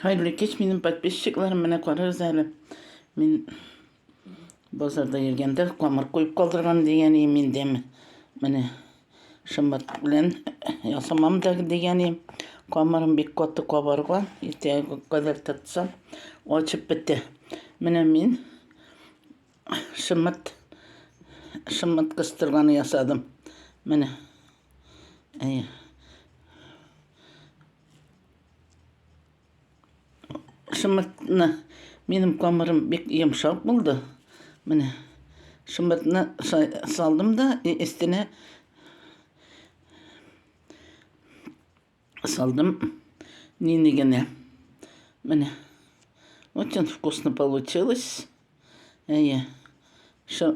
Хәерле кич минем подписчикларым, менә карагыз әле. Мин базарда йөргәндә камыр куеп калдырган дигән идем инде. Менә шымбат белән ясамам да дигән идем. Камырым бик каты кабарган, иртәгә кадәр тотсам, ачып бетә. Менә мин шымбат шымбат кыстырганы ясадым. Менә. Әйе. Шымыртны минем камырым бик йомшак булды. Менә шымыртны салдым да и өстенә салдым нине генә. Менә. Очень вкусно получилось. Әйе. Шо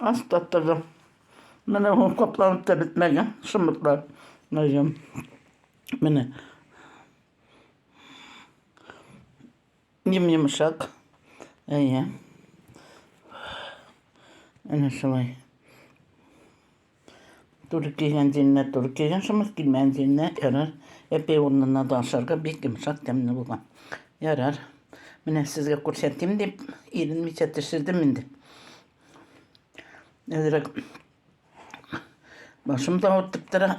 Аз таптырдым. Менә ул капланып та бетмәгән шомыртлар. Мәҗәм. Менә. Ем-йомшак. Әйе. Әнә шулай. Туры килгән җиренә туры килгән шомырт, килмәгән җиренә ярар. Әпе урынына да ашарга бик йомшак тәмле булган. Ярар. Менә сезгә күрсәтим дип, иренмичә төшердем инде. Әзрәк башым да ауыртып тора.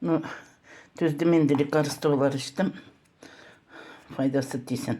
Ну, түздем инде лекарстволар эчтем. Файдасы тисен.